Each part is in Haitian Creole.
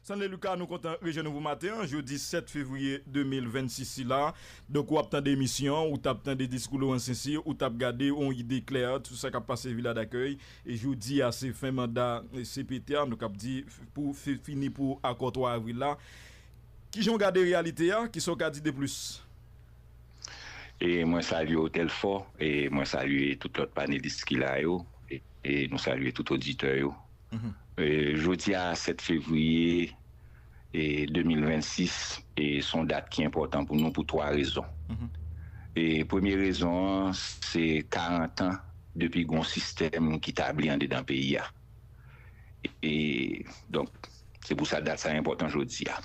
Sanley Lucas nou kontan rejwenn ou pou maten an jodi 7 fevriye 2026 sila donk ou ap tande emisyon an ou tap tande diskou Laurent Sincere ou tap gade yon ide klè sou sa kap pase Vila Dakèy e jodi a se fen manda cpt a nou kap di pou fini pou akò 3 avril la kijan w gade reyalite a kisa w ka di de plis? E mwen salye w Telfò e mwen salye tout lòt panelis ki la yo e nou salye tout oditè yo. Jodi a 7 fevriye 2026 se yon dat ki enpòtan pou nou pou 3 rezon. Premye rezon an se 40 an depi gen yon sistèm ki tabli andedan peyi a. Donk Se pou sa dat sa enpòtan jodi a.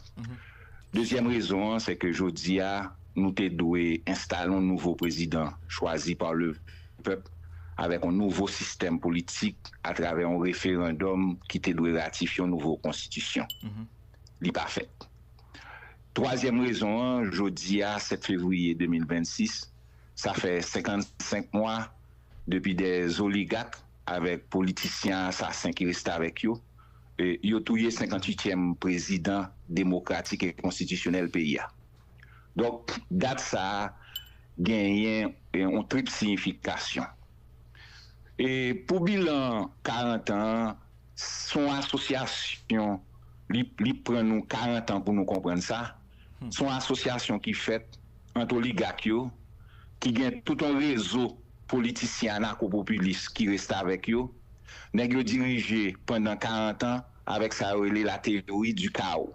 Dezyèm rezon an, sèke jodi a, nou te dwe enstale yon nouvo prezidan chwazi pa lepèp avèk yon nouvo sistèm politik atravè yon referandòm ki te dwe ratifye yon nouvo konstitisyon. Li pa fèt. Twazyèm rezon an, jodi a, 7 fevriye 2026, sa fè 55 mwa depi dè zoligak avèk politisyen asasen ki restavèk yo, Yo touye 58 yèm prezidan demokratik e konstitisyonèl peyi a. Donk dat sa a genyen yon trip siyifikasyon. Pou bilan 40 an an, se yon asosyasyon, li pran nou 40 an pou nou konprann sa, se yon asosyasyon ki fèt ant oligak yo, ki gen tout yon rezo Politisyen anakopopilis ki restavèk yo, nèg yo dirije pandan 40 an avèk sa yo rele la théorie du chaos.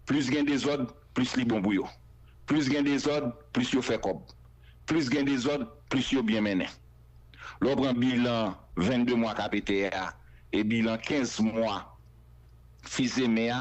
Plis gen dezòd, plis li bon pou yo. Plis gen dezòd, plis yo fè kòb. Plis gen dezòd, plis yo byen mennen. Lè w pran bilan 22 mwa KPT a e bilan 15 mwa Fils-Aimé a,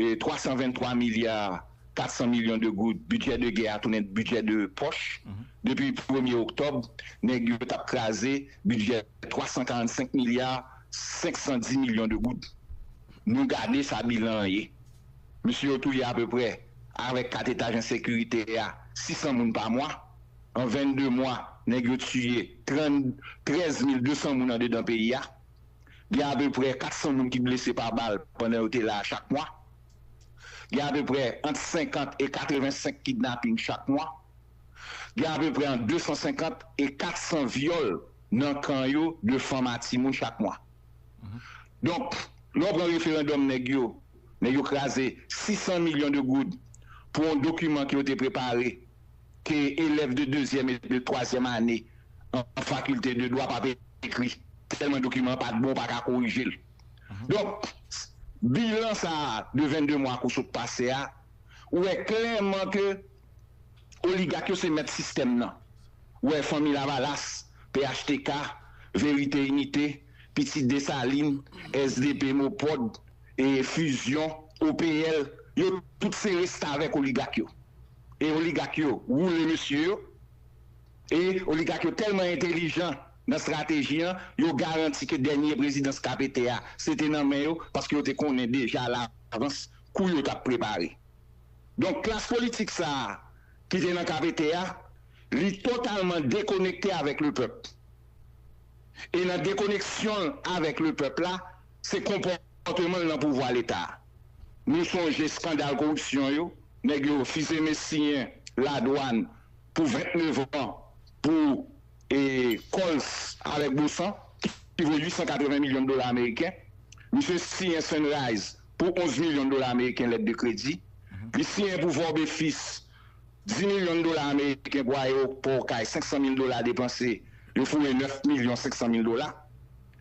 323 milya 400 milyon de goud bidjè de gè a tounen bidjè de pòch depi premye oktòb nèg yo tap kraze bidjè 345 milya 510 milyon de goud nou gade sa bilan an ye mesye yo touye apeprè avèk 4 etaj ensekirite a 600 moun pa mwa an 22 mwa nèg yo tiye 13 mil 200 moun andedan peyi a. gen apeprè 400 moun ki blese pa bal pandan yo te la a chak mwa. Gen apeprè ant 50 e 85 kidnaping chak mwa. Gen apeprè ant 250 e 400 vyòl nan kan yo de fanm a timoun chak mwa. Donk, lè w pran referandòm nèg yo, nèg yo kraze 600 milyon de goud pou yon dokiman ke yo te prepare ke elèv de dezyèm e de twazyèm ane an fakilte de dwa pa te ekri tèlman dokiman an pa t bon, pa ka korije l. Donk, bilan sa a de 22 mwa kou sot pase a wè klèman ke oligak yo se mèt sistèm nan, wè Fanmi Lavalas, phtk, Verite Inite, Pitit Desalin, sdp, Mopod, Fizyon, OPL, yo tout se restavèk oligak yo. e oligak yo woule mesye yo e oligak yo tèlman entelijan nan strateji an yo garanti ke dènye prezidans KPT a se te nan men yo paske yo te konnen deja alavans kou yo tap prepare donk klas politik sa ki te nan KPT a li totalman dekonekte avèk lepèp e nan dekoneksyon l avèk lepèp la se konpòteman l nan pouvwa leta. Nou sonje skandal koripsyon yo, nèg yo fizeme siyen ladwann pou 29 an pou Coles avèk Bosan ki vo 880 milyon dola ameriken. Misye siyen Sunrise pou 11 milyon dola ameriken lèt de kredi. Li siyen pou Vorbe Fils 10 milyon dola ameriken pou ayewopò Okay 500 mil dola depanse, yo foure 9 milyon 500 mil dola.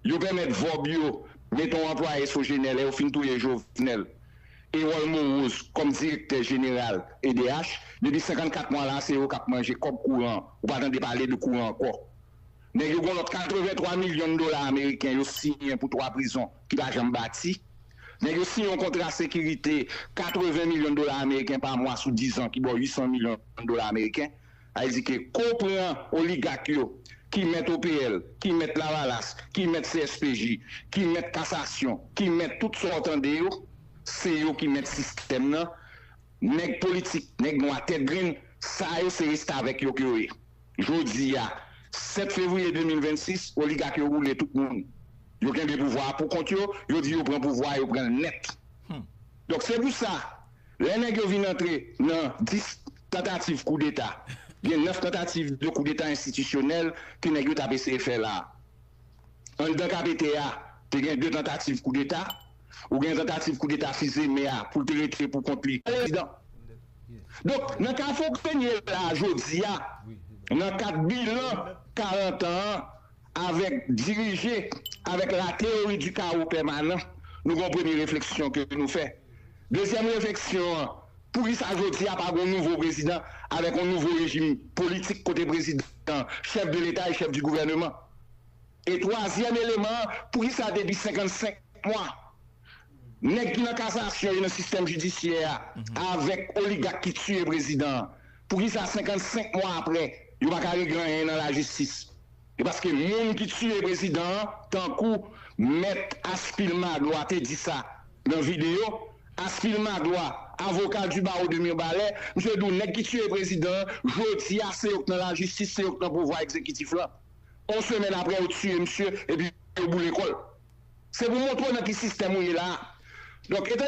Yo pèmèt vòb yo mete yon anplwaye Sogener lè yo fin touye Jovenel, Erol Moroz, kòm direktè jeneral edh. Depi 54 mwa la a se yo k ap manje kòb kouran an. Ou pa tande pale de kouran ankò. Nèg yo gen yon lòt 83 milyon dola ameriken yo siyen pou 3 prizon ki pa janm bati. Nèg yo siyen yon kontra sekirite 80 milyon dola ameriken pa mwa sou 10 an ki ba w 800 milyon dola ameriken. Aizike, Ko pran oligak yo ki mèt OPL, ki mèt lavalas, ki mèt CSPJ, ki mèt kasasyon, ki mèt tout sa w tande yo, se yo ki mèt sistèm nan, nèg politik, nèg nwa tèt grenn, sa yo se restavèk yo ke yo ye. Jodi a, 7 fevriye 2026, oligak yo woule tout moun. Yo kenbe pouvwa a pou kont yo, yo di yo pran pouvwa a, yo pran l nèt. Donk se pou sa. Lè nèg yo vin antre nan 10 tantativ koudeta, gen 9 tantativ de koudeta enstitisyonèl ke nèg yo t ap eseye fè la a. Anndan KPT a, te gen 2 tantativ koudeta, ou gen tantativ koudeta Fils Aimé a pou l te rete pou kont li prezidan. Donk, nan ka Fauquenier la a jodi a, nan kad bilan 40 an an, Avèk dirije avèk la teyori di kawo pèmanan, nou gen yon premye refleksyon ke nou fè. Dezyèm refleksyon an, poukisa jodi a pa gen yon nouvo prezidan avèk yon nouvo rejim politik kote prezidan an chèf de leta e chèf di gouvèneman? E twazyèm eleman an, poukisa depi 55 mwa, nèg ki nan kasasyon e nan sistèm jidisyè a avèk oligak ki tiye prezidan an, Poukisa 55 mwa aprè yo pa ka regle anyen nan lajistis? Se paske moun ki tiye prezidan an tankou mèt Aspil Magloire te di sa nan videyo Aspil Magloire avoka du barreau de Mirbalais misye di w nèg ki tiye prezidan an jodi a se yo k nan lajistis se yo k nan pouvwa egzekitif lan on semèn aprè yo tiye misye epi yo boule kò l se pou montre w nan ki sistèm ou ye la a donk etan